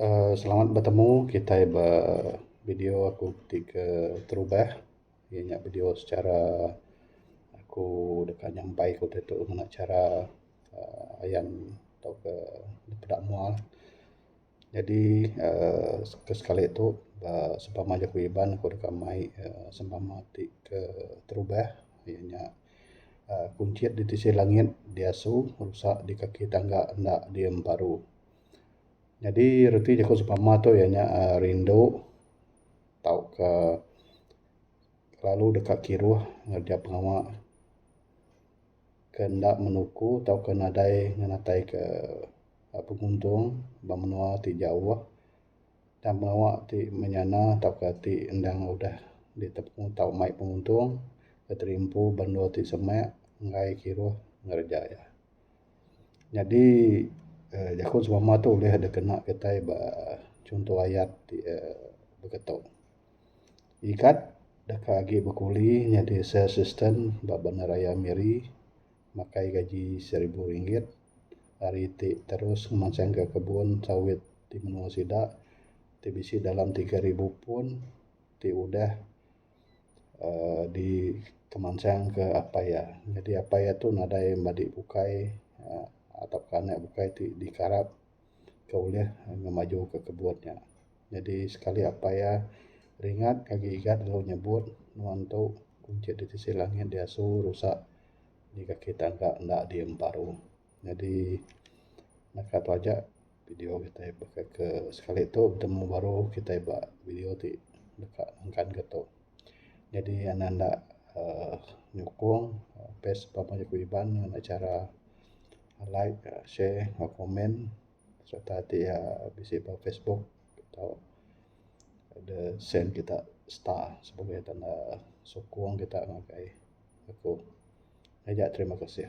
uhh selamat betemu kitai ba video aku ti ke terubah inya nya video secara aku deka nyampai ku ditu ngena chara uhh ayan tauka peda mua la. Jadi uhh ke sekali tu ba sempama jaku Iban aku deka mai uhh sempama ti ke terubah inya nya. Kunchit di tisi langit diasu rusa di kaki tangga enda di emperu. Nyadi reti jaku sempama tu iya nya uhh rindu tauka lalu deka kiruh ngajah pengawa ke enda menuku tauka nadai ngenatai ke penguntung ba menua ti jauh. Tang pengawa ti menyana tauka ti endang udah ditemu tau mai penguntung Menteri Empu Benua ti semek enggai kiruh ngereja iya. Nyadi uhh jaku semama tu ulih dep kena kitai ba chunto ayat ti uhh beketo. Ikat deka agi bekuli nyadi sales assistant ba Bandaraya Miri. makai gaji seribu ringgit hari ti terus ngemansang ka kebun sawit ti menua sida ti bisi dalam tiga ribu pun ti udah uhh dikemansang ka apai iya. Jadi apai iya tu nadai madi bukai uhh tauka anak bukai ti dikarap. ke ulih ngemajuka kebun nya. Jadi sekali aba iya ringat agi igat lalu nyebut nuan tu kunchie da tisi langit diasu rusak indi kaki tangga enda diam paruh. Jadi naka tu aja video kitai baka ke sekali tu betemu baru kitai ba video ti deka nengkanka tu. Jadi ne enda uhh nyukung best pak meh ku iban ne ngena chara like uhh share pak komen serta ti iya bisi pak facebook ato de send kita star supaya kita enda sukung kita ngagai aku. Aja terima kasih.